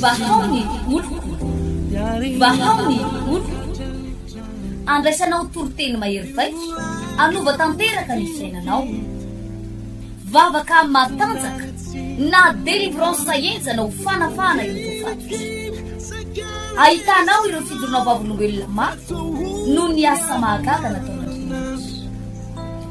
Vahao ny oloko Vahao ny oloko Andraisanao toriteny mahery vaika Hanova tanteraka ny fiainanao Vavaka matanjaka Na délivrance henjana ho fanafahana ireo voafaty Ahitanao ireo fidorona vavolombelona maro Noho ny asa mahagaga nataon'Andriamanitra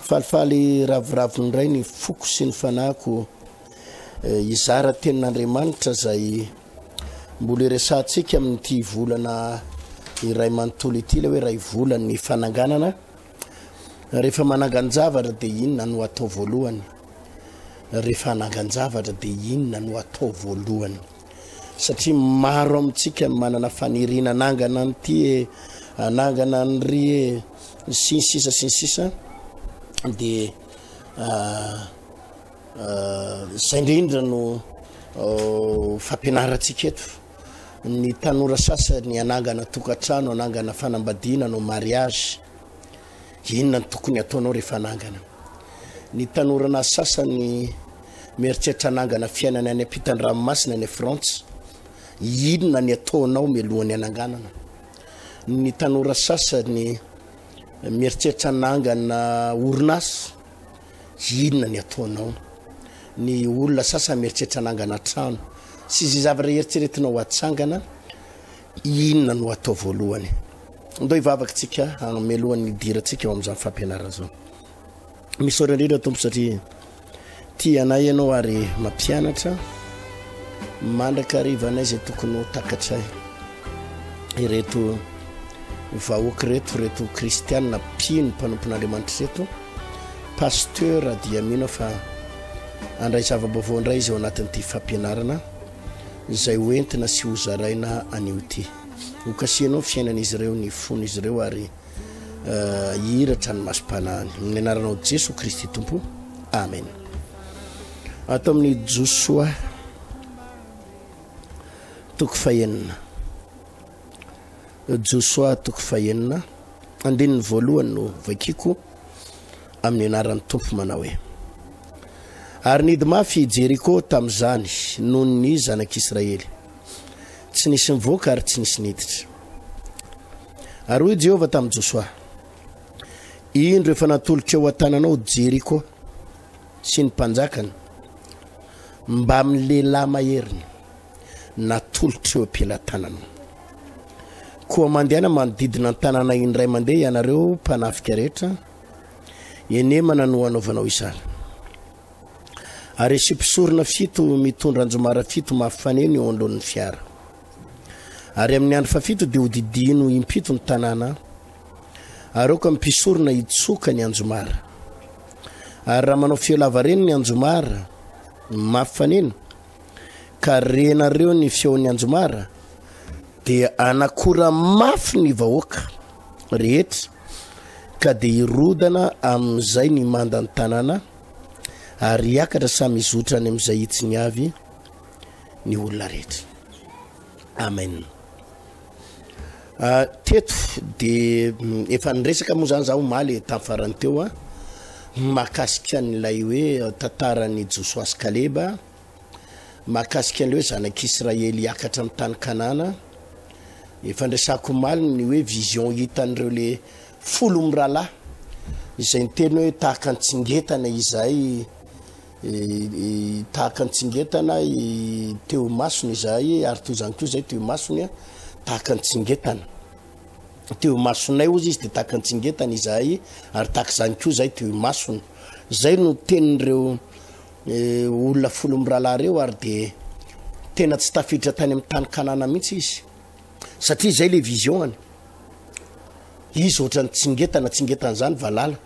Falifaly ravoravo indray ny foko sy ny fanahiko hizara tenin'Andriamanitra izay mbola iresahantsika amin'ity volana iray manontolo ity, ilay hoe ray volan'ny fananganana. Rehefa manangan-javatra dia inona no atao voalohany? Rehefa hanangan-javatra dia inona no atao voalohany? satria maro amintsika no manana faniriana hanangana an'ity e hanangana an'ry e ny siny sisa sy ny sisa dia zay indrindra no fampianarantsika eto ny tanora sasany hanangana tokantrano hanangana fanambadiana no mariage Inona no tokony hataonao rehefa hanangana? Ny tanoranà sasany mieritreritra hanangana fiainana any ampitan-dranomasina any Frantsa. Inona ny ataonao mialohan'ny hananganana? Ny tanora sasany mieritreritra hanangana orinasa. Inona ny ataonao? Ny olona sasany mieritreritra hanangana trano. Sy izay zavatra eritreretinao hatsangana, Inona no atao voalohany? Ndao hivavaka tsika mialohan'ny hidirantsika ao amin'izany fampianarana izany. Misaotra indrindra Tompo satria tia anay ianao ary mampianatra mandrakariva anay izay tokony ho takatray. Ireto vahoaka ireto ireto kristianina mpino mpanompon'Andriamanitra ireto. Pasteur dia mino fa andray zava-baovao indray izy ao anatin'ity fampianarana. izay ho entina sy ho zaraina anio ty. Ho kasihanao ny fiainan'izy ireo, ny fon'izy ireo ary hihiratra ny masom-panahiny. Amin'ny anaranao Jesoa Kristy Tompo. Amen. Ato amin'ny Josoa toko fahenina. Josoa toko fahenina andininy voalohany no vakiko amin'ny anaran'ny Tompo manao hoe Ary nidy mafy i Jeriko tamin'izany noho ny zanak'Israely. Tsy nisy nivoaka ary tsy nisy niditra. Ary hoy Jehovah tamin'i Josoa, Indro efa natoloko eo an-tananao Jeriko sy ny mpanjakany mbamin'ny lehilahy maheriny. natolotr' ireo mpelatanana. Koa mandehana manodidina an-tanàna indray mandeha ianareo mpanafika rehetra, enemana no hanaovanao izany. Ary asio mpisorona fito mitondra anjomara fito mafy faneno eo anoloan'ny fiara. Ary amin'ny andro fafito dia hodidino impito ny tanàna, ary aoka ny mpisorona hitsoka ny anjomara. Ary raha manao feo lavareny ny anjomara mafy faneno, ka renareo ny feon'ny anjomara dia anakora mafy ny vahoaka rehetra ka dia hirodana amin'izay ny mandan'ny tanàna ary hiakatra samy hizotra any amin'izay hitsiny avy ny olona rehetra amen Teto dia efa niresaka moa zany za omaly tamin'ny farany teo a mahakasika an'ilay hoe tantaran'i Josoa sy Kaleba, mahakasika an'ilay hoe zanak'Israely hiakatra amin'ny tany Kanana. Efa niresako omaly ny hoe vision hitan'ireo le folo mirahalahy izay niteny hoe tahaka an-tsingetana izay Tahaka ny tsingetana teo imasony izahay, ary toy izany koa izahay teo imasony, tahaka ny tsingetana teo imasonay, hozy izy, dia tahaka ny tsingetana izahay, ary tahaka izany koa izahay teo imasony. Izay no tenin'ireo eh, olona folo mirahalahy ireo, ary dia tena tsy tafiditra tany amin'ny tany Kanana mihitsy izy, satria izay le vision-any. Izy ohatran'ny tsingetana, tsingetana izany valala.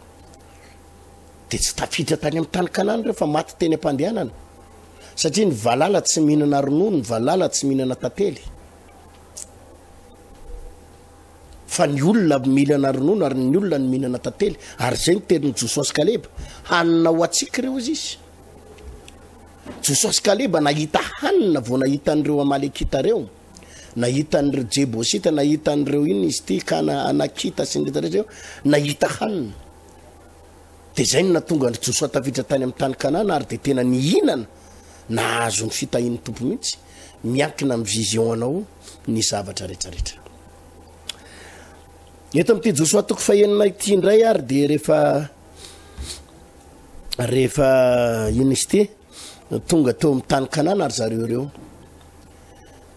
dia tsy tafiditra tany amin'ny tany kanana ireo fa maty teny am-pandehanana satria ny valala tsy mihinana ronono ny valala tsy mihinana tantely fa ny olona mihinana ronono ary ny olona ny mihinana tantely ary izay ny tenin'i jososy kaleba hanina ho atsika ireo izy izy jososy kaleba nahita hanina vao nahita an'ireo amalekita ireo Nahita an'ireo Jebosita, nahita an'ireo inona izy ity, Kana, Anakita sy ny rehetra rehetra eo, nahita hanina. Dia izay no nahatonga an'i Josoa tafiditra tany amin'ny tany Kanana ary dia tena nihinana nahazo ny fitahian'ny Tompo mihitsy. Miankina amin'ny vision anao ny zavatra rehetra rehetra. Eto amin'ity Josoa toko fahenina ity indray ary dia rehefa rehefa inona izy ity tonga teo amin'ny tany Kanana ary zareo ireo.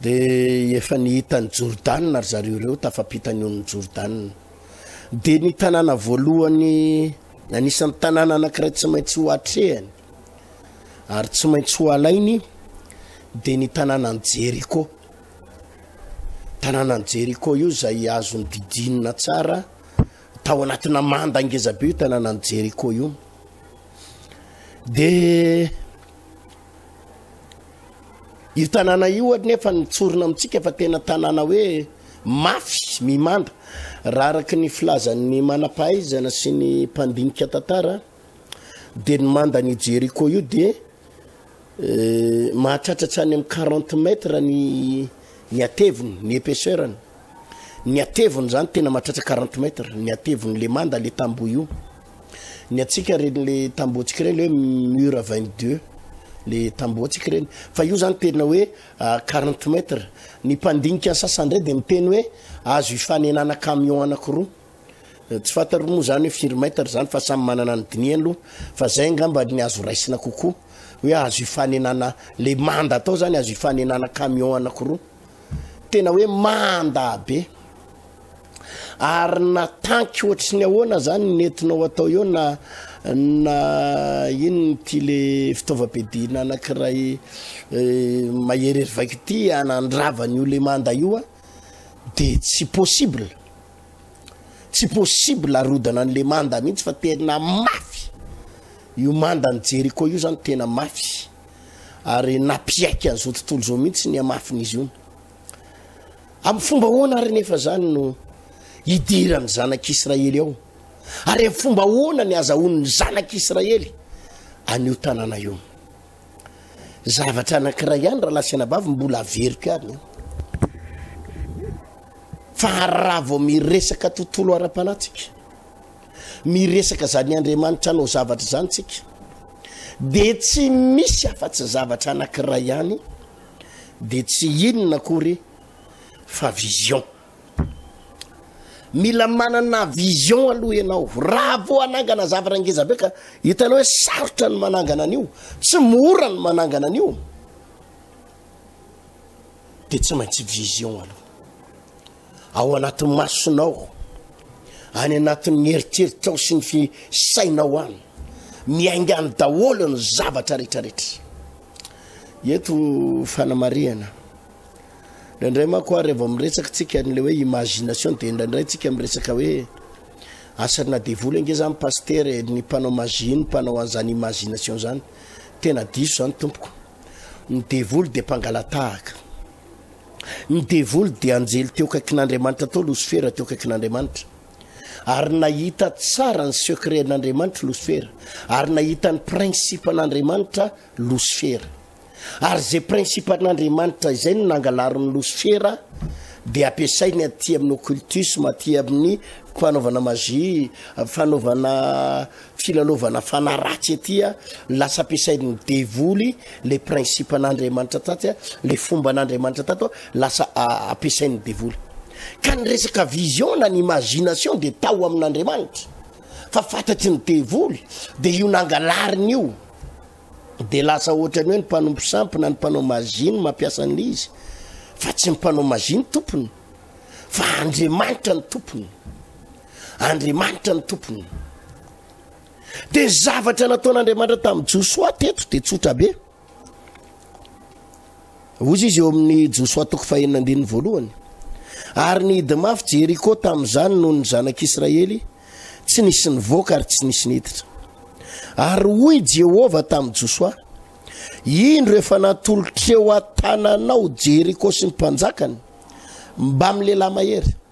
Dia efa nihita an'i Jordana ry zareo ireo tafampita ny onin'i Jordana. Dia ny tanàna voalohany, anisan'ny tanàna anankiray tsy maintsy ho atrehany ary tsy maintsy ho alainy, dia ny tanànan'i Jeriko. Tanànan'i Jeriko io izay azon'ny didinina tsara tao anatina manda ngezabe io tanànan'i Jeriko io. Dia Io tanàna io ary nefa nitsorina amintsika fa tena tanàna hoe mafy mimanda. Raha araka ny filazan'ny manam-pahaizana sy ny mpandinika tantara dia ny mandan'i Jeriko io dia eh, mahatratra hatrany amin'ny 40 mètres ny ny ateviny, ny épaisseur-ny. Ny hateviny zany tena mahatratra quarante mètres, ny hateviny le manda le tamboho io. Ny antsika reny le tamboho antsika reny le hoe mur vingt deux le tamboho antsika reny. Fa io zany tena hoe quarante mètres. Ny mpandinika sasany ndray de miteny hoe azo ifanenana camion anakiroa. Tsy fantaro moa zany hoe firy mètres zany fa samy manana ny dinihany loha. Fa zay angamba ny azo raisina kokoa hoe azo ifanenana le manda atao zany azo ifanenana camion anakiroa. tena hoe mandabe ary natanky ohatry ny ahoana zany netinao atao eo na na inony ty le fitaovam-piadiana anankiray eh, maherery vaika ity anandravan'io le manda io a de tsy possible tsy possible arodana an'le manda mihitsy fa tena mafy io manda ny jeriko io zany tena mafy ary nampiaiky an'izao tontolo izao mihitsy ny hamafin'izy io. Amin'ny fomba ahoana ary nefa izany no hidiran'ny zanak'Israely ao? Ary amin'ny fomba ahoana ny azahoan'ny zanak'Israely an'io tanàna io? Zavatra anankiray ihany raha lasanabavy mbola averiko ihany. Fa raha vao miresaka tontolo ara-panahy tsika, miresaka zany andriamanitra anao zavatra zany tsika de tsy misy afa-tsy zavatra anakiray ihany de tsy inona akory fa vision mila manana vision aloha ianao raha vo anangana zavatra ngezabe ka hitanao hoe sarotra ny manangana an'io tsy mora ny manangana an'io de tsy maintsy vision aloha Ao anaty masonao, any anatin'ny eritreritrao sy ny fi sainao any, miainga any daholo ny zavatra rehetrarehetra. Eto fanamarihana. Indraindray manko ary vao miresaka tsika an'ilay hoe imagination dia indraindray tsika miresaka hoe asarina devoly ange zany pasitera e, ny mpanao magie ny mpanao an'izany imagination zany. Tena diso zany tompoko. Ny devoly dia mpangalatahaka. Ny devoly dia anjely teo akaikin'Andriamanitra tao, Losifera teo akaikin'Andriamanitra. Ary nahita tsara ny secret an'Andriamanitra Losifera, ary nahita ny principe an'Andriamanitra Losifera. Ary izay principe an'Andriamanitra izay no nangalarin'i Losifera dia ampiasainy aty amin'ny occultisme, aty amin'ny fanaovana magie, fanaovana Filalaovana fanahy ratsy aty a, lasa ampiasain'ny devoly le principe-n'Andriamanitra taty a, le fomban'Andriamanitra tato a, lasa ampiasain'ny devoly. Ka ny resaka vision na ny imagination de tao amin'Andriamanitra, fa fatatry ny devoly, de io nangalariny io, de lasa ohatran'ny hoe ny mpanompo sampy na ny mpanao magie no mampiasa an'le izy, fa tsy ny mpanao magie ny tompony, fa Andriamanitra ny tompony. Andriamanitra ny tompony. Dia ny zavatra nataon'Andriamanitra tamin'i Josoa teto dia tsotra be. Ozy izy eo amin'ny Josoa toko fahenina andininy voalohany. Ary ny hidi mafy Jeriko tamin'izany noho ny zanak'Israely tsy nisy nivoaka ary tsy nisy niditra. Ary hoy Jehovah tamin'i Josoa, indro efa natolotreo an-tananao Jeriko sy ny mpanjakany mbamin'ny lehilahy mahery.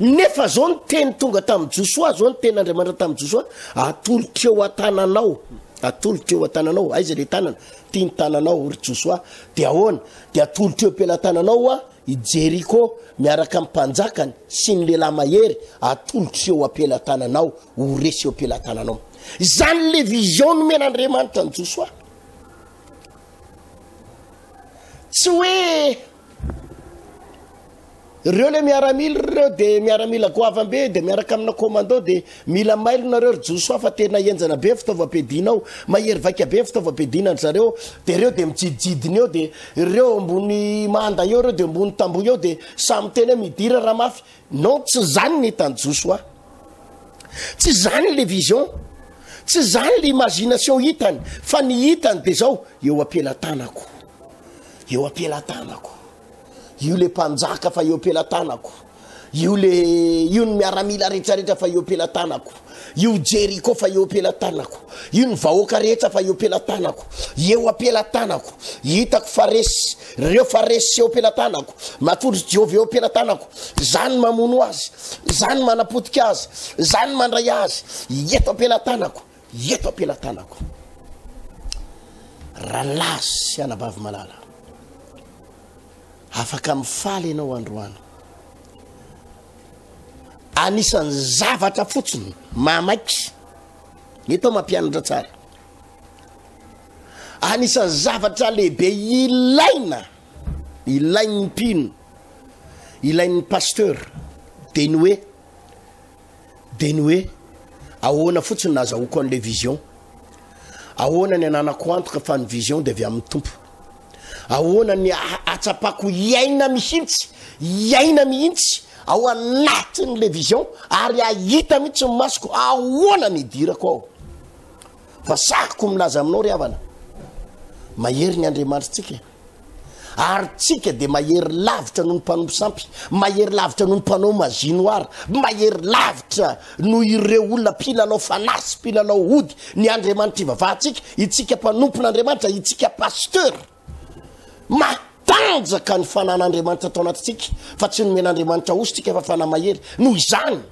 Nefa zao ny teny tonga tamin'i Josoa, zao ny teny Andriamanitra tamin'i Josoa, atolotro eo an-tananao, atolotro eo an-tananao, aiza le tanana? Ty ny tananao ry Josoa, de ahoana? De atolotro eo am-pelatananao hoa i Jeriko miaraka amin'ny mpanjakany sy ny lehilahy mahery, atolotro eo am-pelatananao, ho resy eo am-pelatananao. Zany le vision nomen'Andriamanitra an'i Josoa. Tsy hoe Reo le miaramila reo de miaramila goavambe de miaraka amina commando de mila mailo nareo ry Josoa fa tena henjana be ny fitaovam-piadiana ao, mahery vaika be ny fitaovam-piadiana ry zareo de reo de mijidijidina eo de reo ambony manda eo reo de ambony tamboho eo de samy miteny hoe midira raha mafy, non tsy zany ny hitan'i Josoa, tsy zany le vision, tsy zany le imagination hitany fa ny hitany de zao eo am-pelatanako. Eo ampelatanako. Io le mpanjaka fa eo ampelatanako. Io le io ny miaramila retraretra fa eo ampelatanako. Io Jeriko fa eo ampelatanako. Io ny vahoaka rehetra fa eo ampelatanako. Eo ampelatanako. Hitako fa resy reo fa resy eo ampelatanako. Matondro Jehovah eo ampelatanako. Zany mamono azy. Zany manapotika azy. Zany mandray azy. Eto ampelatanako. Eto am-pelatanako, Ralahy sy Anabavy malala, afaka mifaly ianao androany. Anisan'ny zavatra fotsiny mahamaiky, mety aho mampianatra tsara. Anisan'ny zavatra lehibe ilaina, ilain'ny mpino, ilain'ny pasteur, dia ny hoe, dia ny hoe ahoana fotsiny no nahazahoako an'ilay vision, ahoana ny ananako antoka fa ny vision dia avy amin'ny Tompo, ahoana ny hahatsapako hiaina mihitsy, hiaina mihitsy ao anatin'ilay vision ary hahita mihitsy ny masoko ahoana ny hidirako ao. Fa sahiko milaza aminao ry havana, mahery ny Andriamanitritsika. Ary tsika dia mahery lavitra noho ny mpanompo sampy, mahery lavitra noho ny mpanao magie noir, mahery lavitra noho ireo olona mpilalao fanahy sy mpilalao ody ny Andriamanitra ivavahantsika, itsika mpanompon'Andriamanitra, itsika pasteur. Matanjaka ny fanan'Andriamanitra tao anatintsika fa tsy nomen'Andriamanitra osy tsika fa fanahy mahery. Noho izany.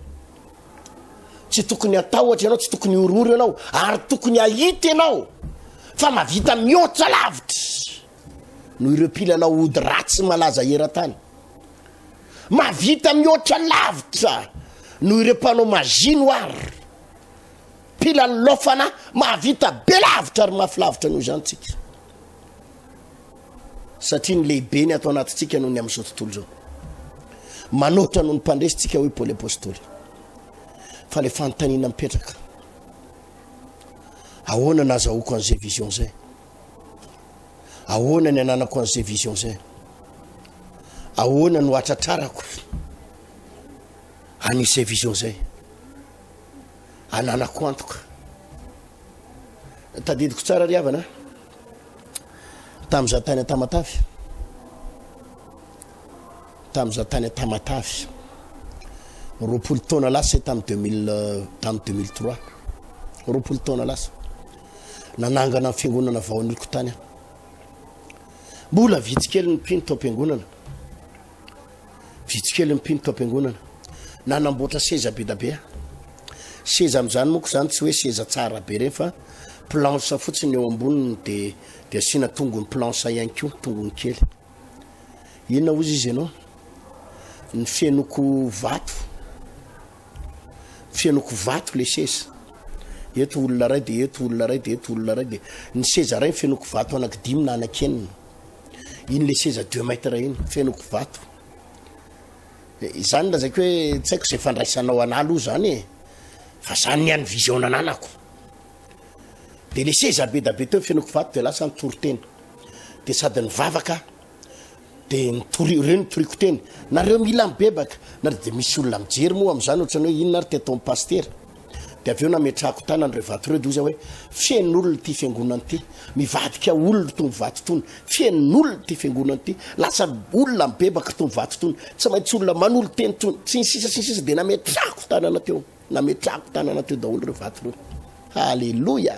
Tsy tokony hatahotra ianao, tsy tokony hihorohoro ianao, ary tokony hahita ianao fa mahavita mihoatra lavitra noho ireo mpilalao ody ratsy malaza eran-tany. Mahavita mihoatra lavitra noho ireo mpanao magie noir. Mpilalao fanahy mahavita be lavitra ary mafy lavitra noho izany tsika. satria ny lehibe ny ato anatintsika noho ny amin'izao tontolo izao. Manoatra noho ny mpandresy tsika hoy Paoly Apôstôly. Fa le fanontaniana mipetraka. Ahoana nazahoako an'izay vision zay? Ahoana ny ananako an'izay vision zay? Ahoana no atratrarako an'izay vision zay? alalako antoka tadidiko tsara ry havana tam'za tany atamatavy tam'za tany atamatavy roapolo taona lasa tamy deux mille tamy deux mille trois roapolo taona lasa nanangana ny fiangonana vaoaniko tany aho mbola vitsikely ny mpino tao am-piangonana Vitsy kely ny mpino tao am-piangonana nanamboatra seza be da be. Seza amin'izany moa izany tsy hoe seza tsara be ireny fa planche fotsiny eo amboniny dia dia asiana tongony planche ihany koa, tongony kely. Inona hozy izy ianao? Ny fenoko vato. Fenoko vato le seza. Eto olona iray dia eto olona iray dia eto olona iray dia ny seza iray ny fenoko vato anaky dimy na anaky enina. Iny le seza deux mètres iny feno kivato. Izany lazaiko hoe tsy haiko izay fandraisanao anà aloha izany e. Fa izany ny an'ny vision nananako. Dia le seza be da be teo feno kivato dia lasa nitory teny. Dia sady nivavaka dia nitory ireo nitoriako teny. Nareo mila mibebaka. Nareo dia misy olona mijery moa amin'izany ohatran'ny hoe inona ary teto amin'ny pasitera. Dia avy eo nametrahako tanana ireo vato ireo dia hoy izy aho hoe, Feno olona ity fiangonana ity, mivadika olona itony vato itony. Feno olona ity fiangonana ity, lasa olona mibebaka itony vato itony. Tsy maintsy olona manolo-teny itony. Sy ny sisa sy ny sisa dia nametrahako tanana teo. Nametrahako tanana teo daholo ireo vato ireo. Haleloia!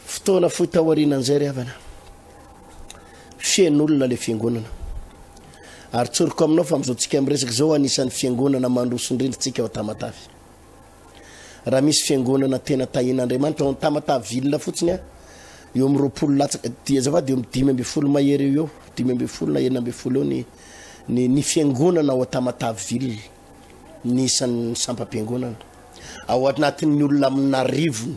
Fotoana fohy taorianan'izay ry havana, feno olona ilay fiangonana. Ary tsoriko aminao fa amin'izao tsika miresaka izao anisan'ny fiangonana mandroso indrindra tsika ao Tamatave. Raha misy fiangonana tena tahin'Andriamanitra ao amin'ny Tamatave ville fotsiny a, eo amin'ny roapolo latsaka, dia azafady eo amin'ny dimy ambin'ny folo mahery eo eo, dimy ambin'ny folo na enina ambin'ny folo eo ny ny ny fiangonana ao Tamatave ville, ny isan'ny sampam-piangonana. Ao anatin'ny olona amin'arivony.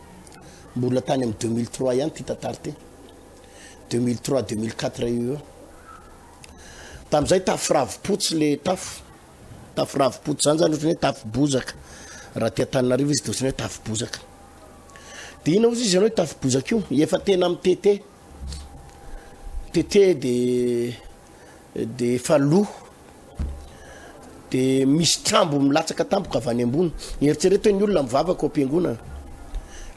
Mbola tany amin'ny deux mille trois ihany ity tantara ity, deux mille trois deux mille quatre eo eo. Tamin'izay tafo ravipotsy le tafo, tafo ravipotsy zany zany ohatrany hoe tafo bozaka. Raha aty Antananarivo izy dia ohatrany hoe tafo bozaka. Dia ina ozy izy ianao io tafo bozaka io? Efa tena mitete, mitete dia dia efa lo dia misy trambo milatsaka tampoka avy any ambony eritsereto ny olona mivavaka ao am-piangonana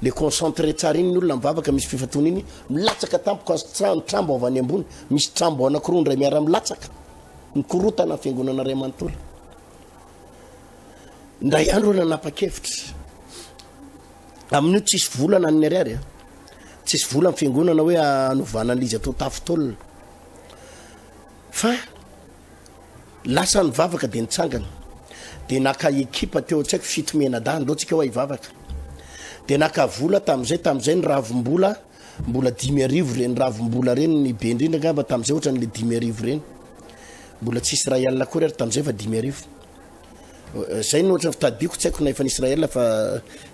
le concentré tsara iny ny olona mivavaka misy fifatona iny milatsaka tampoka ny trambo avy any ambony misy trambo anankiroa indray miara milatsaka mikorotana fiangonana ray manontolo ndray andro ana napa-kevitra amin'io tsisy volana an'ny ariary tsisy vola ny fiangonana hoe anovana an'izy atao tafitolona Fa lasa nivavaka dia nitsangana dia naka ekipa teo tsy haiko fito mianadahy ndao tsika hoa hivavaka dia naka vola tamin'izay tamin'izay ny ravim-bola mbola dimy arivo ireny ravim-bola ireny ny be indrindra angamba tamin'izay ohatran'ilay dimy arivo ireny mbola tsy isray alina akory ary tamin'izay fa dimy arivo euh, zay no ohatran'ny fitadidiko tsy haiko na efa ny Israël fa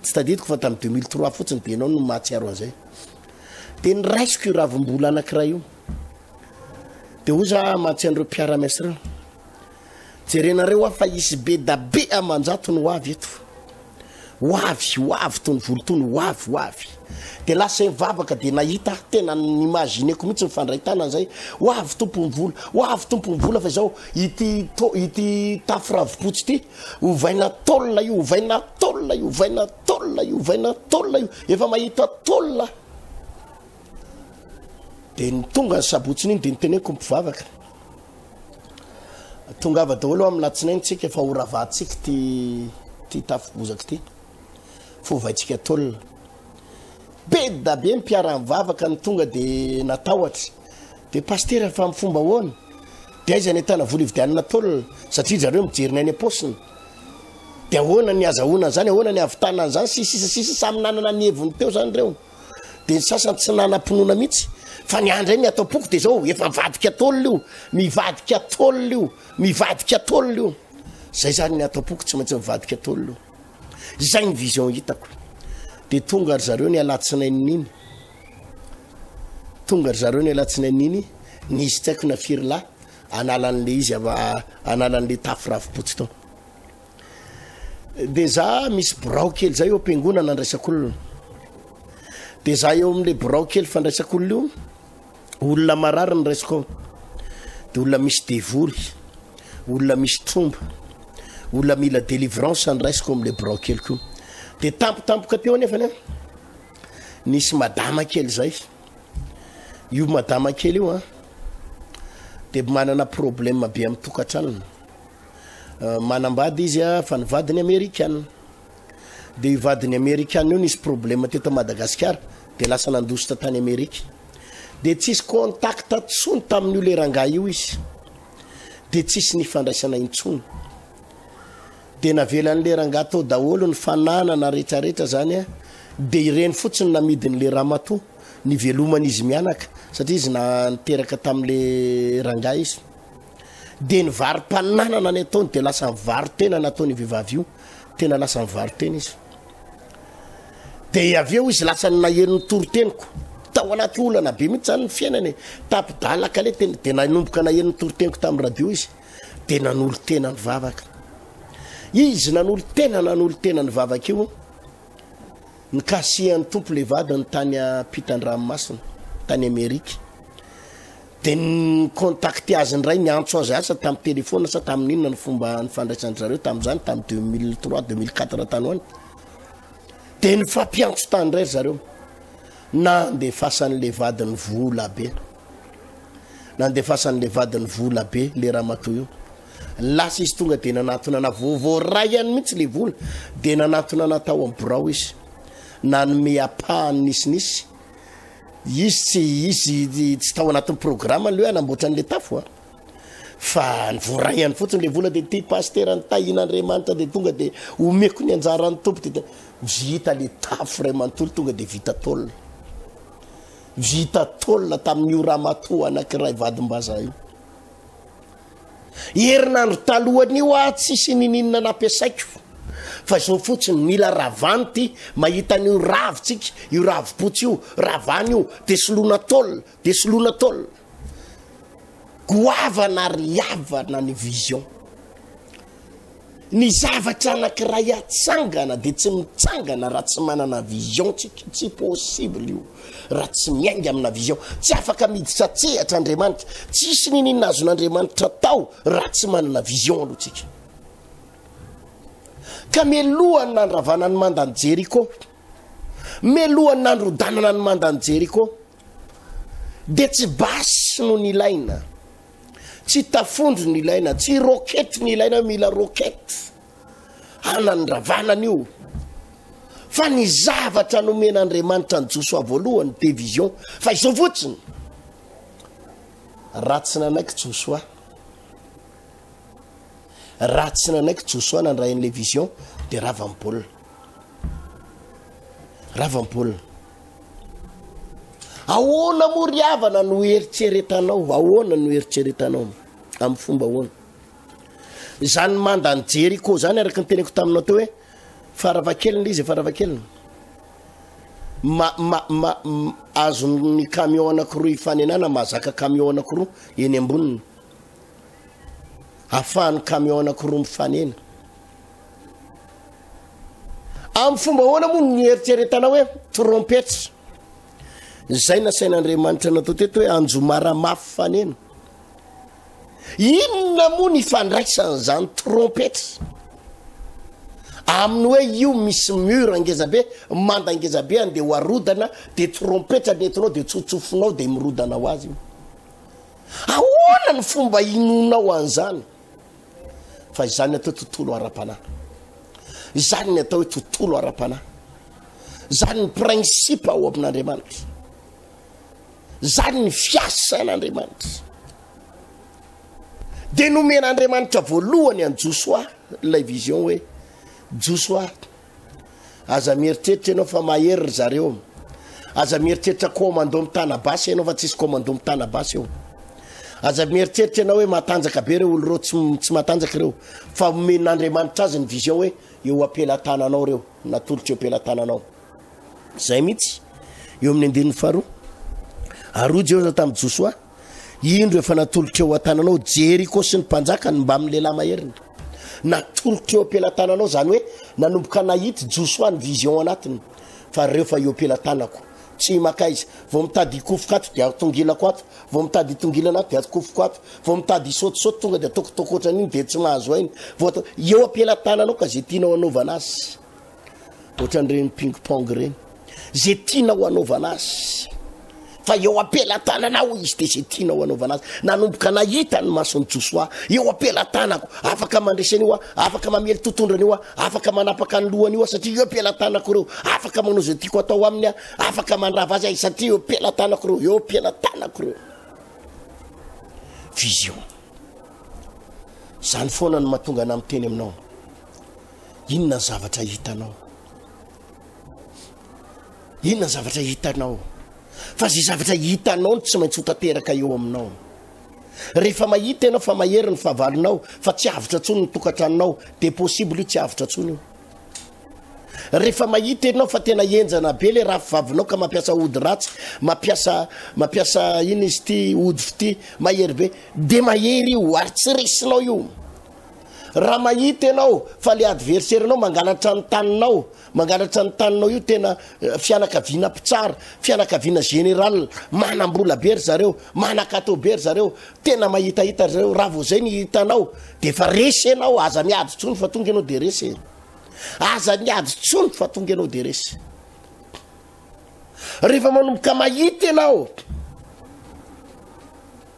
tsy tadidiko fa tamin'ny 2003 fotsiny dia ianao no mahatsiaro an'izay dia niraisiko io ravim-bola anankiray io Dia hoy za amantsy an'ireo mpiara-miasa ireo, jerenareo hoa fa hisy be da be aman-jatony ho avy eto. Ho avy, ho avy toy ny volotony, ho avy, ho avy. Dia lasa hivavaka dia nahita aho, tena nimagineko mihitsy ny fandray tanana izay, ho avy tompon'ny vola, ho avy tompon'ny vola fa izao ity, to- ity tafo ravipotsy ity, ovaina tôle io, ovaina tôle io, ovaina tôle io, ovaina tôle io, efa mahita tôle aho. Dia ny tonga ny sabotsiny iny dia niteneniko mpivavaka. Tongava daholo amin'ny latsinainy tsika fa ho ravahantsika ty ty tafibozaka ty. Fovaitsika tolona. Be da be mpiara-mivavaka ny tonga dia natahotra. Dia pastera fa amin'ny fomba ahoana? Dia aiza ny ahitana vola ividianana tolona satria zareo mijery ny any am-paosiny. Dia ahoana ny azahoana an'izany? Ahoana ny ahavitana an'izany? Sisa sisa sisa samy nanana ny heviny teo izany ireo. dia ny sasany tsy nanam-pinoana mihitsy fa ny ahy indray ny ato am-poko dia izao efa mivadika tolona io mivadika tolona io mivadika tolona io zay zany ny ato am-poko tsy maintsy mivadika tolona io izay ny vision hitako dia tonga ry zareo ny alatsinain'iny tonga ry zareo ny alatsinain'iny nisy tsy haiko na firy lahy analan'le izy ava- analan'le tafy ravi-potsy tao de za misy birao kely zay eo am-piangonana andraisak'olona de za eo amin'le birao kely fandraisak'olona io olona marary ny raisiko ao de olona misy devoly olona misy tromba olona mila délivrance andraisiko amin'le birao keliko io de tampotampoka teo anefany a nisy madama kely zay io madama kely io a de manana problème be amin'ny tokantranony Manambady izy a, fa ny vadiny amerikana. Dia io vadiny amerikana io nisy problema teto Madagasikara, dia lasa nandositra tany Amerika. Dia tsisy contact tsony tamin'io le rangahy io izy. Dia tsisy nifandraisana intsony. Dia navelan'le rangahy tao daholo ny fananana rehetrarehetra zany a. Dia ireny fotsiny namidin'le ramatoa niveloman'izy mianaka satria izy na niteraka tamin'le rangahy izy. Dia ny varom-pananana ny ataony dia lasa nivaro-tena nataony vehivavy io, tena lasa nivaro-tena izy. Dia avy eo izy lasa ny nahery ny toroteniko. Tao anaty olana be mihitsy zany ny fiainany. Tapi-dalaka le tena dia nanomboka nahery ny toroteniko tamin'ny radio izy. Dia nanolo tena ny vavaka. Izy nanolo tena nanolo tena ny vavaka io. Nikasihan'ny tompo le vadiny tany ampitan-dranomasina, tany Amerika. Dia ni-contacter azy indray, niantso azy asa tamin'ny telefaona sa tamin'ny inona ny fomba nifandraisan-dry zareo tamin'izany, tamin'ny deux mille trois, deux mille quatre tany ho any. Dia nifampiantso tany indray ry zareo. Nandefasan'ilay vadiny vola be. Nandefasan'ilay vadiny vola be ilay ramatoa io. Lasa izy tonga dia nanatona ana vo- voaraiany mihitsy ilay vola. Dia nanatona ana tao amin'ny birao izy. Nanome ampahany nisinisy. izy tsy izy tsy tao anatin'ny programme ny hoe hanamboatra an'le tafo a fa ny voaraihany fotsiny le vola de ty pastera ny tahina andriamanitra de tonga de omeko ny anjaran'ny tompo de vita le tafo ray manontolo tonga de vita tôle vita tôle tamin'io ramatoa anankiray vadimbazaha io Herinandro talohan'io aho tsisy nininona nampiasaiko fa izao fotsiny mila ravany ty mahita an'io ravo tsika io ravopotsy io ravany io de solona tol de solona tol goavana ry havana ny vision Ny zavatra anakiray hatsangana dia tsy mitsangana raha tsy manana vision tsika, tsy possible io raha tsy miainga amina vision. Tsy afaka miditra an-tsehatra Andriamanitra, tsisy niniana azon'Andriamanitra atao raha tsy manana vision aloha tsika. Ka melohan'ny nandravana ny mandan'i Jeriko, melohan'ny nandrodanana ny mandan'i Jeriko, dia tsy basy no nilaina tsy tafondro ny ilaina tsy rokety ny ilaina mila rokety hanandravanan'io fa ny zavatra nomen'andriamanitra ny josoa voalohany de vision fa izao fotsiny raha tsy nanaiky josoa raha tsy nanaiky josoa nandrain'la vision de rava-mbolina rava-mbolina Ahoana moa ry havana no eritreretanao? Ahoana no eritreretanao? Amin'ny fomba ahoana? Izany manda ny Jeriko izany araka ny teneko taminao teo hoe faravankelina izy, faravankelina. Ma, ma, ma, azon'ny camion anankiroa ifanenana, mahazaka camion anankiroa eny amboniny. Afahan'ny camion anankiroa mifanena. Amin'ny fomba ahoana moa no nieritreretana hoe trompetra? Izay nasain'Andriamanitra natao teto hoe anjomara mafy faneno. Inona moa ny fandraisan'izany trompetra? Amin'ny hoe io misy mur angezabe, manda angezabe any dia ho arodana, dia trompetra ny entinao dia tsotsofinao dia mirodana ho azy io. Ahoana ny fomba inonao an'izany? fa izany atao hoe tontolo ara-panahy izany ny atao hoe tontolo ara-panahy zany ny principe ao amin'andriamanitra zany ny fiasan'andriamanitra de nomen'andriamanitra voalohany any josoa ilay vision hoe josoa Aza mieritreritra ianao fa mahery ry zareo. Aza mieritreritra commando mitana basy ianao fa tsisy commando mitana basy eo. Aza mieritreritra ianao hoe matanjaka be ireo olo ireo tsy, tsy matanjaka ireo. Fa omen'Andriamanitra azy ny vision hoe eo am-pelatananao ireo, natolotro eo am-pelatananao. Izay mihitsy. Eo amin'ny andininy faharoa. Ary hoy Jehosa tamin'i Josoa, Indro efa natolotra eo an-tananao Jeriko sy ny mpanjakany mbamin'ny lehilahy maheriny. Natolotra eo am-pelatananao, izany hoe nanomboka nahita Josoa ny vision anatiny. Fa ry reo fa eo am-pelatanako, tsy makaiza, vao mitady hikofoka ato dia tongilako ato, vao mitady hitongilana ato dia atokofoko ato, vao mitady hisaotisaoty tonga dia ataoko tokotra an'iny dia tsy mahazo aina, vao atao, eo am-pelatananao ka izay tianao hanaovana azy. Ohatran'ireny ping pong ireny, izay tianao hanaovana azy fa eo am-pelatananao izy dia izay tianao hanaovana azy. Nanomboka nahita ny mason'i Josoa, eo am-pelatanako, afaka mandresy an'io aho, afaka mamely totondrana io aho, afaka manapaka ny lohany io aho satria eo am-pelatanako ireo, afaka manao izay tiako atao aminy aho, afaka mandrava azy ahy satria eo am-pelatanako ireo, eo am-pelatanako ireo. Vision. Izany foana no mahatonga anà miteny aminao. Inona ny zavatra hitanao? Inona ny zavatra hitanao? Fa izay zavatra hitanao no tsy maintsy ho tanteraka eo aminao. Rehefa mahita ianao fa mahery ny fahavalonao fa tsy avotra intsony ny tokantranonao, dia possible io tsy avotra intsony io. Rehefa mahita ianao fa tena henjana be le raha fivavinao ka mampiasa ody ratsy, mampiasa mampiasa ina izy ity ody fity, mahery be, dia mahery io ary tsy resinao io. Raha mahita ianao fa le adversaire nao mangalatra ny taninao, mangalatra ny taninao io tena fianakaviana mpitsara, fianakaviana général, manam-bola be ry zareo, manan-kato be ry zareo, tena mahitahita ry zareo, raha vao zay ny hitanao de efa resy ianao, aza miady tsony fa tonga ianao de resy e. Aza miady tsony fa tonga ianao de resy. Rehefa manomboka mahita ianao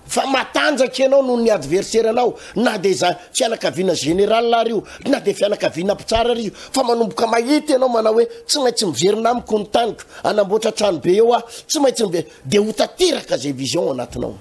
Fa matanjaka ianao noho ny adversaire anao na dia za fianakaviana général ary io na dia fianakaviana mpitsara ary io fa manomboka mahita ianao manao hoe tsy maintsy miverina amiko ny taniko hanamboatra trano be eo aho tsy maintsy miverina dia ho tanteraka zay vision anatinao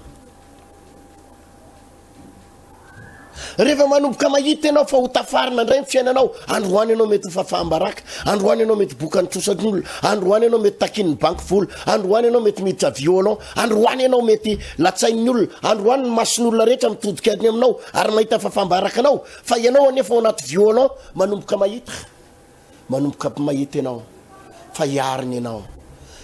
Rehefa manomboka mahita ianao fa ho tafarina indray ny fiainanao, androany ianao mety ho fafaham-baraka, androany ianao mety bokan'ny trosan'olona, androany ianao mety takin'ny banky vola, androany ianao mety miditra violon, androany ianao mety latsain'ny olona, androany ny mason'olona rehetra mitodika ny aminao ary mahita fafaham-baraka anao, fa ianao anefa ao anaty violon manomboka mahita. manomboka mahita ianao fa hiarina ianao,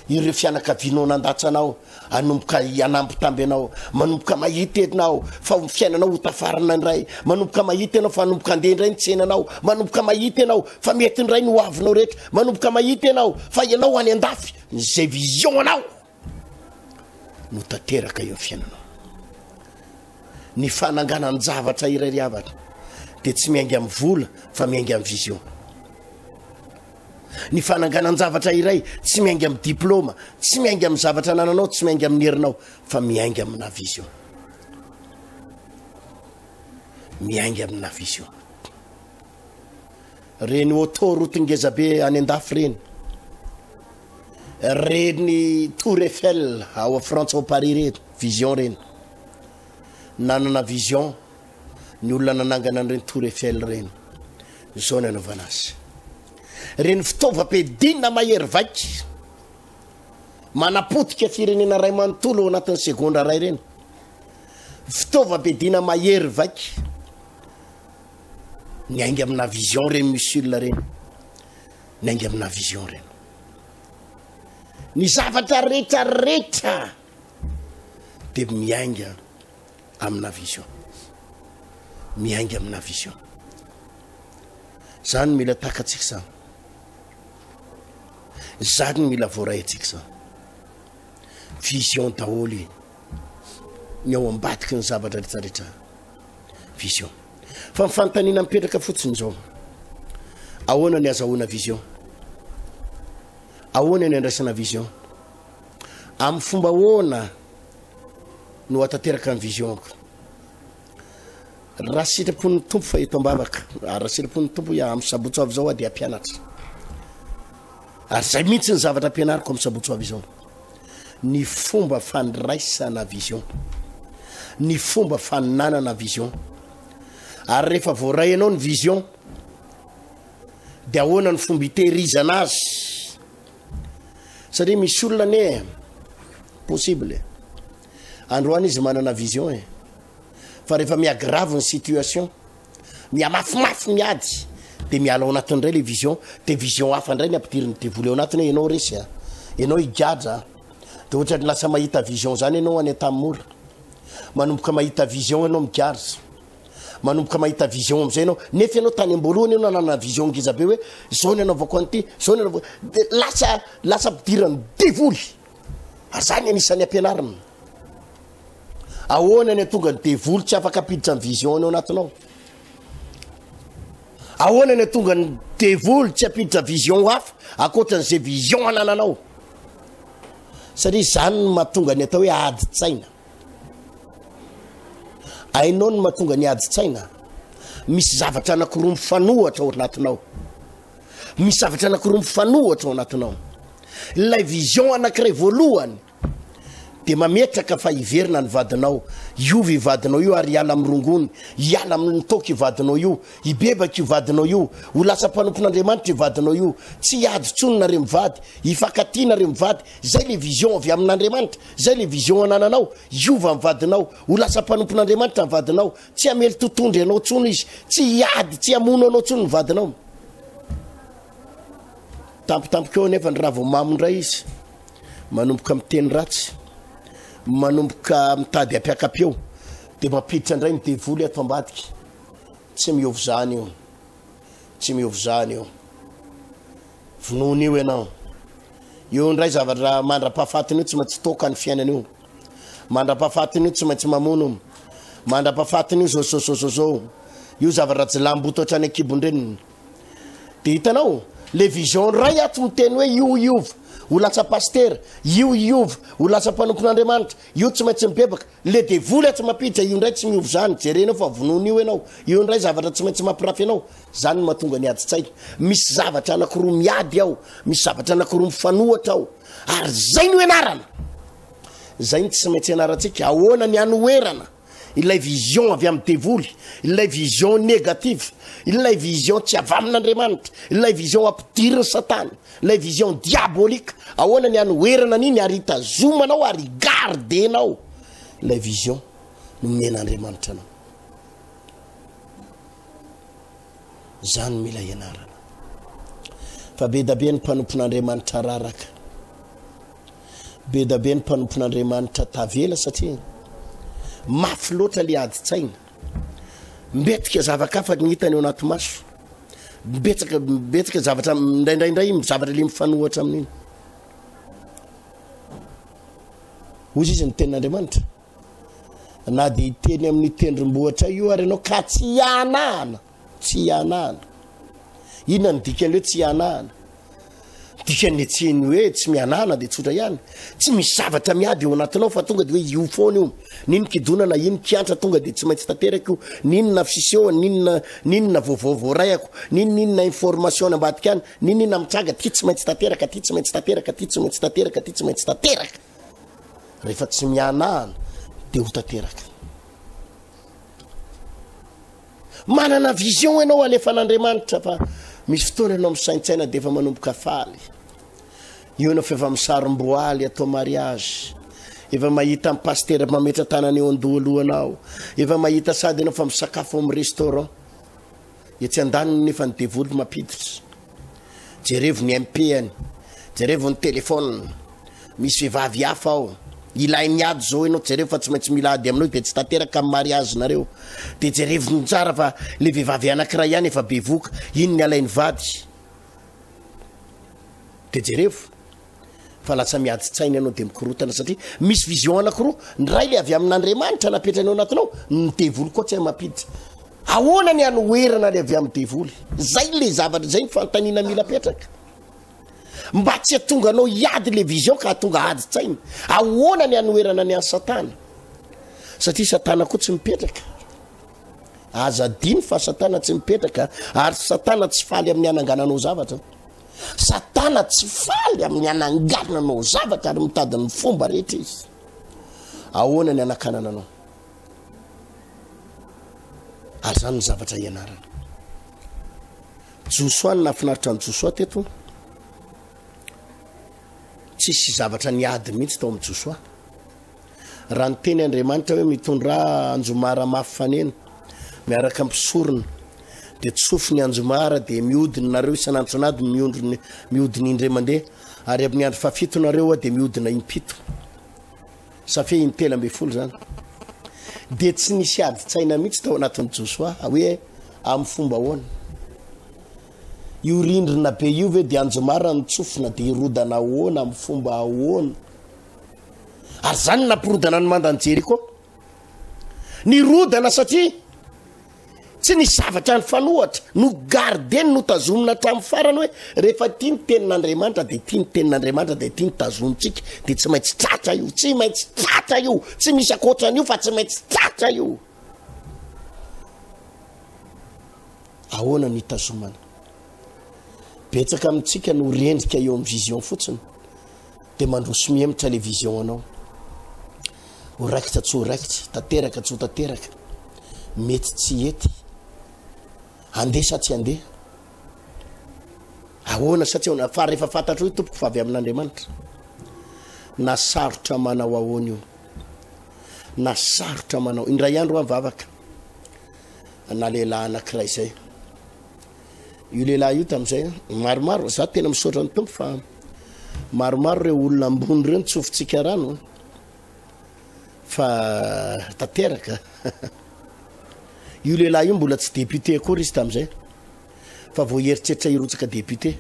ireo fianakavianao nandatsa anao hanomboka hanambitamby anao, manomboka mahita ianao fa ho fiainanao ho tafarina indray, manomboka mahita ianao fa hanomboka handeha indray ny tsenanao, manomboka mahita ianao fa mety indray ny hoavinao rehetra, manomboka mahita ianao fa ianao any an-dafy, izay vision anao. no tanteraka eo amin'ny fiainanao. Ny fananganan-javatra iray ry havana dia tsy miainga amin'ny vola fa miainga amin'ny vision. Ny fananganan-javatra iray tsy miainga amin'ny diplôma, tsy miainga amin'ny zavatra anananao, tsy miainga amin'ny herinao fa miainga amina vision. Miainga amina vision. Reny auto route ngeza be any andafy reny. Reny tour Eiffel ao a Frantsa ao Paris reny, vision reny. Nanana vision ny olona nanangana an'ireny tour Eiffel reny. Izao ny anaovana azy. Reny fitaovam-piadiana mahery vaika manapotika firenena iray manontolo ao anatin'ny segondra iray reny. Fitaovam-piadiana mahery vaika. Niainga amina vision reny Musul reny. Niainga amina vision reny. Ny zavatra rehetra rehetra dia miainga amina vision. Miainga amina vision. Zany mila takatsika zany. Zany mila voaraintsika zany. Vision daholo ny ao ambadiky ny zavatra rehetra rehetra. vision fa ny fanontaniana mipetraka fotsiny izao ahoana ny azahoana vision ahoana ny andraisana vision amin'ny fomba ahoana no atanteraka ny visionko raha sitrapon'ny tompo fa eto ambavaka raha sitrapon'ny tompo ya amin'ny sabotso avy izao a dia ampianatra ary zay mihitsy ny zavatra ampianariko amin'ny sabotso avy izao ny fomba fandraisana vision, ny fomba fananana vision. Ary rehefa voaray anao ny vision, dia ahoana ny fomba itehirizana azy? Satria misy olona ne possible androany izy manana vision e fa rehefa miagrave ny situation Mihamafimafi ny ady de miala ao anatiny ndray le vision de vision hafa ndray ny ampidirin ny devoly ao anatiny hoe enao resy a enao higadra a de ohatra ny lasa mahita vision zany enao any tam mora manomboka mahita vision enao migadra manomboka mahita vision amizay enao nefa enao tany amboalohany enao nanana vision ngezabe hoe zao ny anaovako anty zao ny anaovako de lasa lasa ampidiran ny devoly Azany anisan'ny ampianarina. Ahoana ny atonga ny devoly tsy afaka apiditra ny vision any ao anatinao? Ahoana ny atonga ny devoly tsy apiditra vision hafa akoatra ny zay vision anananao? Satria zany ny matonga ny atao hoe ady tsaina. Ainao ny matonga ny ady tsaina. Misy zavatra anakiroa mifanohatra ao anatinao. Misy zavatra anankiroa mifanohitra ao anatinao. Ilay vision anankiray voalohany dia mametraka fa hiverina ny vadinao, hiova io vadinao io ary hiala amin'ny rongony, hiala amin'ny toaka io vadinao io, hibebaka io vadinao io, ho lasa mpanompon'Andriamanitra io vadinao io, tsy hiady intsony nareo mivady, hifankatia nareo mivady, zay le vision avy amin'Andriamanitra, zay le vision anananao, hiova ny vadinao, ho lasa mpanompon'Andriamanitra ny vadinao, Tsy hamely totondry anao tsony izy, tsy hiady, tsy hamono anao tsony ny vadinao. Tampotampoka eo anefa ny ravomamo indray izy, manomboka miteny ratsy, manomboka mitady ampiakapeo, dia mampiditra indray ny devoly ato ambadika. Tsy miovy zany io, tsy miovy zany io. Vonoina io ianao. Io indray zavatra mandra-pahafatiny io tsy maintsy toaka ny fiainana io. Mandra-pahafatiny io tsy maintsy mamono. Mandra-pahafatiny io zozozozozo. Io zavatra jilamboto hatrany an-kibon-dreniny. Dia hitanao, le vision ray ato miteny hoe io hiova ho lasa pasitera, io hiova ho lasa mpanompon'Andriamanitra, io tsy maintsy mibebaka. Le devoly atsy mapija io ndray tsy miova zany jerenao fa vonoina io enao eo ndray zavatra tsy maintsy mapirafy anao zany no matonga ny ady tsaina misy zavatra anakiroa miady ao misy zavatra anakiroa mifanohatra ao ary zay no enarana zay no tsy maintsy enaratsika ahoana ny anoherana ilay vision avy amin'ny devoly ilay vision negative ilay vision tsy avy amin'andriamanitra ilay vision ampidiriny satana Ilay vision diabolique ahoana ny hanoherana an'iny ary hitazomanao ary gardenao ilay vision nomen'Andriamanitra anao. Zany mila ianarana. Fa be da be ny mpanompon'Andriamanitra raraka. Be da be ny mpanompon'Andriamanitra tavela satria mafy loatra le adi-tsaina. Mbetika zava-kafa ny hitany ao anaty maso. Betsaka betsaka zavatra indraindray indray zavatra le mifanohatra amin'iny. Hoy izy ny tenin'Andriamanitra. Na dia hiteny amin'ny tendrombohitra io ary ianao ka tsy hianahana. Tsy hihanahana. Inona no dikan'ny hoe tsy hihanahana? Dikany etseny hoe tsy mihanahana dia tsotra ihany. Tsy misy zavatra miady eo anatinao fa tonga dia hoe io foana io. Nino kidonana, ino kiantra tonga dia tsy maintsy tanteraka io. Ninona fisehona, ninona ninona vaovao voaray ako, nininona information any ambadika any, nininona mitranga aty tsy maintsy tanteraka, aty tsy maintsy tanteraka, aty tsy maintsy tanteraka, aty tsy maintsy tanteraka. Rehefa tsy mihanahana dia ho tanteraka. Manana vision ianao alefan'Andriamanitra fa misy fotoana ianao misaintsaina dia efa manomboka faly. Eo ianao fa efa misarom-boaly atao mariage. Efa mahita ny pasitera mametra-tanana eo an-dohalohanao. Efa mahita sady ianao fa misakafo ao amin'ny restaurant. Etsy andaniny nefa ny devoly mampiditra. Jerevo ny MP-any, jerevo ny telephone, misy vehivavy hafa ao, ilainy ady zao enao jerevo fa tsy maintsy mila ady aminao izy de tsy tanteraka am mariage nareo de jerevo ny tsara fa le vehivavy anakiray ihany efa bevoka iny ny alainy vady de jerevo. fa latsa miady tsaina ianao dia mikorotana satria misy vision anakiroa ny ray le avy amin'andriamanitra napetrany ao anatinao ny devoly koa tsy hay mampiditra ahoana ny anoherana le avy amin'ny devoly zay le zavatra zay ny fantanina mila petraka mba tsy atonga anao hiady le vision ka atonga ady tsaina ahoana ny anoherana ny any satana satria satana koa tsy mipetraka aza diny fa satana tsy mipetraka ary satana tsy faly amin'ny anangananao zavatra Satana tsy faly amin'ny hananganana anao zavatra ary mitady ny fomba rehetra izy. Ahoana ny hanakanana anao? Ary izany ny zavatra ianarana. Josoa ny nafinaritra ny Josoa teto. Tsisy zavatra niady mihitsy tao amin'ny Josoa. Raha niteny Andriamanitra hoe mitondrà anjomara mafy fanena miaraka amin'ny mpisorona, dia tsofy ny anjomara, dia mihodina nareo isan'antsonadiny miondrony mihodina indray mandeha, ary amin'ny andro fahafito nareo a, dia mihodina impito. Safia intelo ambin'ny folo zany. Dia tsy nisy adin-tsaina mihitsy tao anatin'i Josoa hoe amin'ny fomba ahoana. Io rindrina be io ve dia anjomara ny tsofina dia hirodana ahoana amin'ny fomba ahoana? Ary izany no nampirodana ny mandan'i Jeriko. Nirodana satria tsy ny zavatra nifanohatra no gardeny no tazomina hatramin'ny farany hoe rehefa tia ny tenin'Andriamanitra dia tia ny tenin'Andriamanitra dia tia ny tazontsika dia tsy maintsy tratra io tsy maintsy tratra io tsy misy ankoatran'io fa tsy maintsy tratra io ahoana ny tazomana betsaka amintsika no rendrika eo amin'ny vision fotsiny Dia mandroso mihemotra ilay vision anao. Ho raikitra tsy ho raikitra, tanteraka tsy ho tanteraka, mety tsy hety, handeha sa tsy handeha. Ahoana sa tsy ahoana, fa rehefa fantatro io tompoko fa avy amin'Andriamanitra. Na sarotra manao ahoana io. Na sarotra manao. Indray andro aho mivavaka. Na lehilahy anankiray izay. io lehilahy io tamin'izay maromaro za tena misaotra ny tompo fa maromaro ireo olona ambony ireo ny tsofintsika rano fa tanteraka io lehilahy io mbola tsy député akory izy tamin'izay fa vao heritreritra hirotsaka député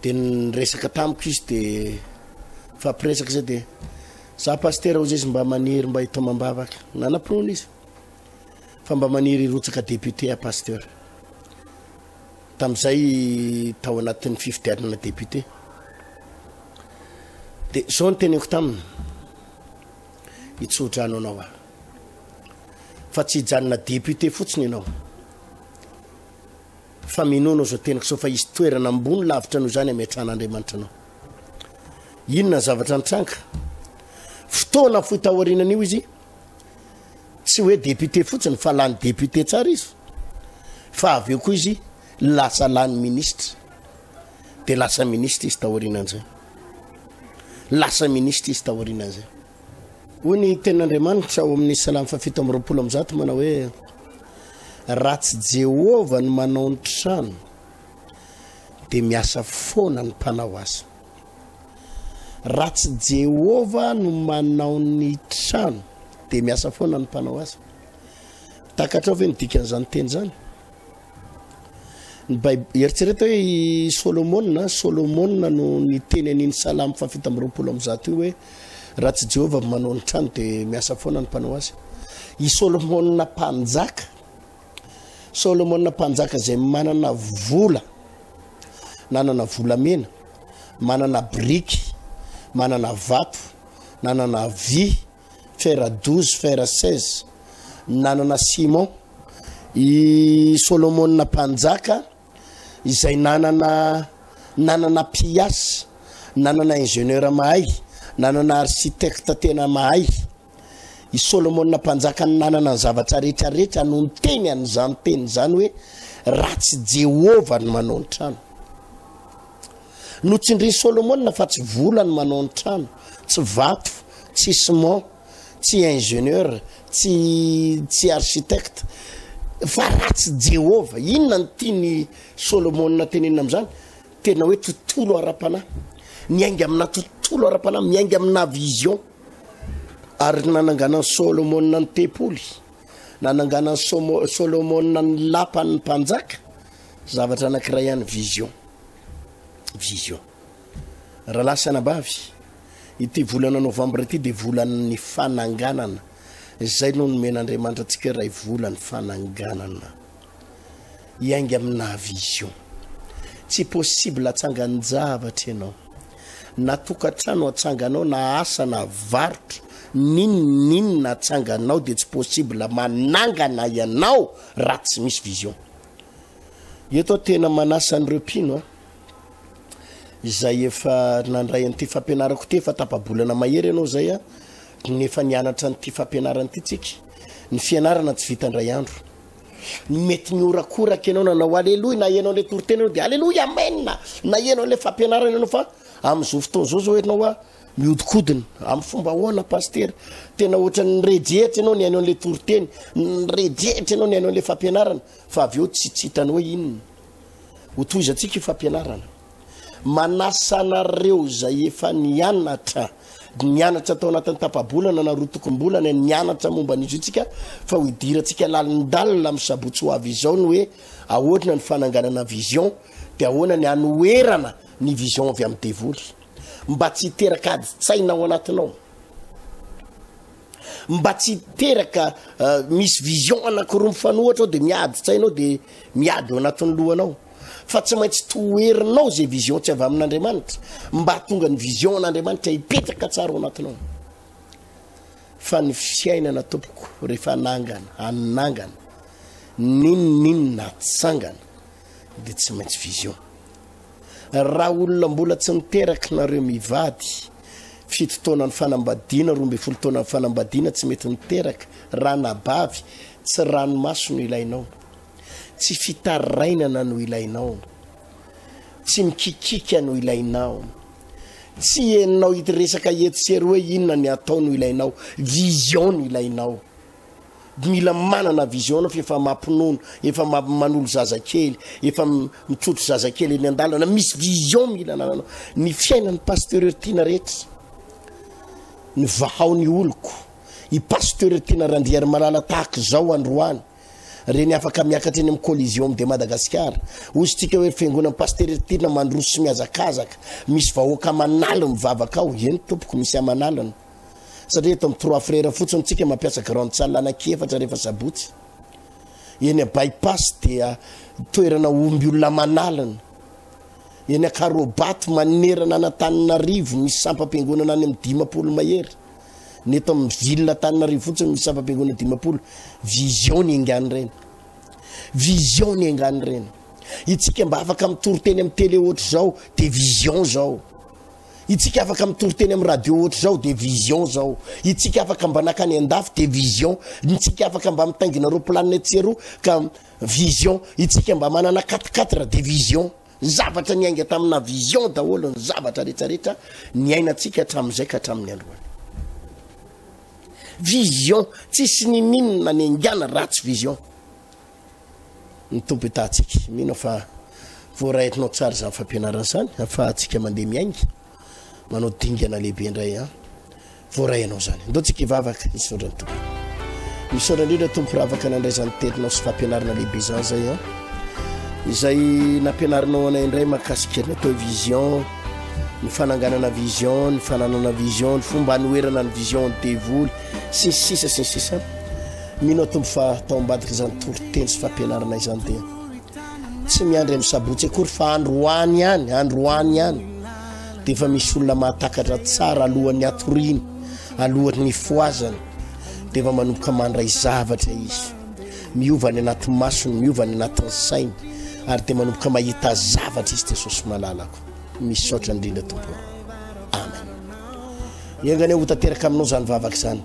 de ny resaka tamiko izy de fampiresaka zay de za pastera ozy izy mba maniry mba hitomam-bavaka nanam-pinoana izy fa mba maniry hirotsaka député à pasteur tamin'izay tao anatin'ny fifidianana député dia zao ny teneko taminy hitsodrano anao aho fa tsy hijanona député fotsiny ianao fa minono zao tenako zao fa hisy toerana ambony lavitra noho izany ametrahan'Andriamanitra anao inona ny zavatra nitranga fotoana fohy taorianan'io izy Tsy hoe député fotsiny fa lany député tsara izy fa avy eo koa izy lasa lany ministre de lasa ministre izy taorianan'izay lasa ministre izy taorianan'izay hoy ny tenin'Andriamanitra ao amin'ny salamo fahafito amby roapolo amby zato manao hoe raha tsy Jehovah no manao ny trano dia miasa foana ny mpanao azy Raha tsy Jehovah no manao ny trano, dia miasa foana ny mpanao asa. Takatrao ve ny dikan'izany teny izany? Ny Baib- Eritrereto hoe i Solomona, Solomona no niteny an'iny salamo fahafito amby roapolo amby zato io hoe raha tsy Jehovah manao ny trano dia miasa foana ny mpanao asa. I Solomona mpanjaka Solomona mpanjaka izay manana vola, nanana volamena, manana biriky, manana vato, nanana vy, fera 12, fera 16, nanana simon. I Solomona mpanjaka izay nanana nanana mpiasa, nanana ingénieur mahay, nanana architecte tena mahay. I Solomona mpanjaka no nanana ny zavatra rehetra rehetra no niteny an'izany teny izany hoe raha tsy Jehovah no manao ny trano. Notsindrin'i Solomona fa tsy vola no manao ny trano, tsy vato, tsy ciment, tsy ingénieur, tsy tsy architecte fa raha tsy Jehovah. Inona no tian'i Solomona tenenina amin'izany? Tena hoe tontolo ara-panahy. Miainga amina tontolo ara-panahy, miainga amina vision. Ary nananganan'i Solomona ny tempoly, nananganan'i Somo- Solomona ny lapan'ny mpanjaka, zavatra anankiray ihany vision. Vision. Rahalahy sy anabavy, ity volana novambra ity dia volan'ny fananganana. Izay no nomen'Andriamanitra antsika iray volan'ny fananganana. hiainga aminà vision. Tsy possible atsangan-javatra ianao. Na tokantrano atsanganao na asa na varotra, n'inona n'inona atsanganao dia tsy possible manangana ianao raha tsy misy vision. Eto aho tena manasa an'ireo mpino a, izay efa nandray an'ity fampianarako ity efa tapa-bolana mahery ianao izay a, nefa nianatra an'ity fampianarana ity tsika. Ny fianarana tsy vita indray andro. mety nihorakoraka ianao nanao aleloia na ianao le toritena anao de aleloia amen na ianao le fampianarana ianao fa am'izao fotoana zao zao ianao a miodikodina amy fomba ahoana pastera tena ohatran'ny nirejehitra ianao ny ainao an'le toriteny nirejehitra ianao ny ainao an'le fampianarana fa avy eo tsy tsy hitanao hoe inona ho tohizantsika io fampianarana Manasa anareo izay efa nianatra nianatra tao anatin'ny tapa-bolana na roa tokom-bolana ny anatra momba an'izy io tsika fa ho idirantsika lalindalina amin'ny sabotsy ho avy izao ny hoe ahoana ny fananganana vision dia ahoana ny anoherana ny vision avy amin'ny devoly mba tsy hiteraka adi-tsaina ao anatinao mba tsy hiteraka uh, misy vision anankiroa mifanohatra ao dia miady tsainao dia miady ao anatin'ny lohanao fa tsy maintsy toherinao zay vision tsy avy amin'andriamanitra mba hatonga ny vision an'andriamanitra hipetraka tsara ao anatinao fa ny fiainana tompoko rehefa nangana anynangana ninoninona atsangana de tsy maintsy vision raha olona mbola tsy niteraky nareo mivady fito taonany fanambadiana roa mbe folo taonany fanambadiana tsy mety niteraka raha nabavy tsy ranomaso no ilainao Tsy fitarainana no ilainao. Tsy mikikika no ilainao. Tsy enao ity resaka etsy sy eroa hoe inona ny atao no ilainao. Vision no ilainao. Mila manana vision anao fa efa mampinono, efa manolo zazakely, efa mitrotro zazakely eny an-dalana. Misy vision mila anananao. Ny fiainan'ny pasteur Ertina rehetra, ny vahao ny oloko, i pasteur Ertina Randriarimalala tahaka izao androany, Reny afaka miakatra eny amin'ny Coliseum de Madagascar. Hosintsika hoe fiangonan'i Pasitera Eritirina mandroso sy mihazakazaka. Misy vahoaka aman'aliny mivavaka ao. Eny tompoko, misy aman'alina. Satria eto amin'ny Trois Frères fotsiny tsika mampiasa Grande Salle anankiefatra rehefa sabotsy. Eny a Bypass dia toerana omby olona aman'alina. Eny Akarobato manerana an'Antananarivo misy sampam-piangonana any amin'ny dimampolo mahery. Ny eto amin'ny ville Antananarivo fotsiny misy sampam-piangonana dimampolo. Vision ny engany ireny. Vision ny engany ireny. Itsika mba afaka mitory teny amin'ny télé ohatra izao dia vision izao. Itsika afaka mitory teny amin'ny radio ohatra izao dia vision izao. Itsika afaka mba nakany an-dafy dia vision. Itsika afaka mba mitaingina roa planina etsy sy eroa ka vision. Itsika mba manana 4 4 dia vision. Ny zavatra niainga tamina vision daholo ny zavatra rehetrarehetra niainantsika hatramin'izay ka hatramin'ny androany. Vision, tsisy nininona ny engana ratsy vision. Ny tompo itatsika, mino fa voaraetinao tsara izany fampianarana izany, afahantsika mandeha miainga, manao dingana lehibe indray an. Voaray ianao izany. Ndao tsika hivavaka hisaotra ny Tompo. Misaotra indrindra Tompo firavaka nandray izany teninao sy fampianarana lehibe izany zay an. Ah. Izay nampianarinao anay indray makasika ny atao vision, ny fananganana vision, ny fananana vision, ny fomba anoherana ny vision ny devoly sy ny sisa sy ny sisa. Mino Tompo fa tao ambadika izany toriteny sy fampianarana izany dia tsy miandry amin'ny sabotsy akory fa androany ihany, androany ihany. Dia efa misy olona mahatakatra tsara alohan'ny hatoriany, alohan'ny hifohazany, dia efa manomboka mandray zavatra izy. Miova any anaty masony, miova any anatin'ny sainy, ary dia manomboka mahita zavatra izy Jesosy malalako. Misaotra indrindra tompoko. Amen. Engane ho tanteraka aminao izany vavaka izany.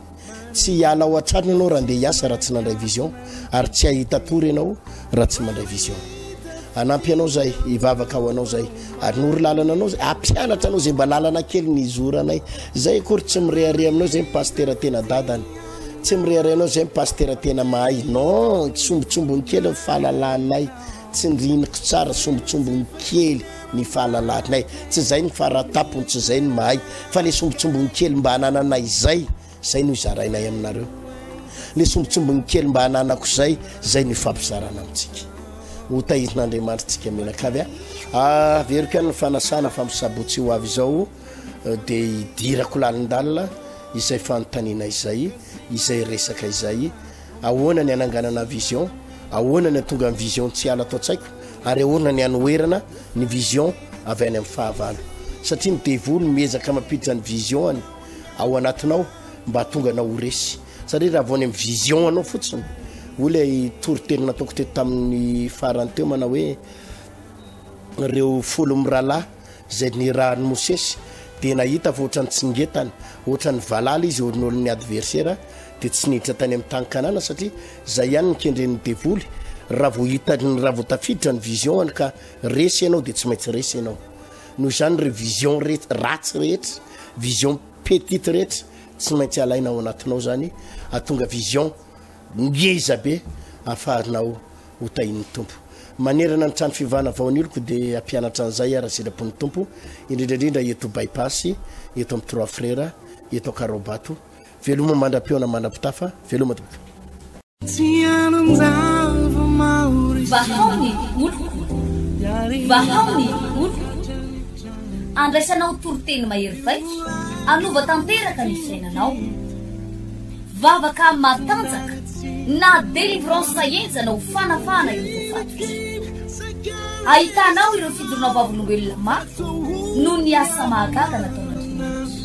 Tsy hiala ao an-trano ianao raha andeha hiasa raha tsy mandray vision ary tsy hahita tory ianao raha tsy mandray vision. Anampy anao zay, hivavaka ho anao zay ary nory lalana anao zay, ampianatra anao zay mba lalana kely ny izoranay. Zay akory tsy mirehareha aminao zay mipasitera tena dadany. Tsy mirehareha anao zay mipasitera tena mahay. Non, tsombotsombony kely ny fahalalanay. Tsindriniko tsara sombintsombiny kely ny fahalalahanay tsy izay ny faratapony tsy izay ny mahay fa le sombintsombiny kely mba anananay izay izay no izarainay aminareo le sombintsombiny kely mba ananako izay izay no ifampizarana amintsika ho tahizin'andriamanitra tsika menakavy a ah, averiko any ny fanasana fa misabotsy ho avy izao eh, de idirako lalindalina izay fanontaniana izay izay resaka izay Ahoana ny hananganana vision? Ahoana ny hatonga ny vision tsy hiala ato an-tsaiko? Ary ahoana ny hanoherana ny vision avy any amin'ny fahavalo? Satria ny devoly miezaka mampiditra ny vision-ny ao anatinao mba hahatonga anao ho resy. Satria raha vao any amin'ny vision anao fotsiny, hoy ilay toriteny nataoko teto tamin'ny farany teo manao hoe ireo folo mirahalahy izay nirahan'i Mosesy dia nahita fa ohatran'ny tsingetana, ohatran'ny valala izy eo nolon'ny adversera, dia tsy niditra tany amin'ny tany kanana satria zay ihany ny kendren'ny devoly raha vao hitany raha vao tafiditra ny vision any ka resy ianao dia tsy maintsy resy ianao noho izany ireo vision rehetra ratsy rehetra vision petite rehetra tsy maintsy alaina ao anatinao zany atonga vision ngeza be afahanao ho tahin'ny tompo manerana ny trano fivana vao aniloko dia ampianatra an'izay ara sitrapon'ny tompo indrindra indrindra eto bypass eto amin'ny trois frères eto akaraobato Veloma mandra-peo na mandra-pitafa, veloma tompoko. Vahao ny oloko, vahao ny oloko, andraisanao toriteny mahery vaika, anova tanteraka ny fiainanao. Vavaka matanjaka na délivrance henjana ho fanafahana ireo voafatotra. Ahitanao ireo fijoroana vavolombelona mafy noho ny asa mahagaga nataon'Andriamanitra.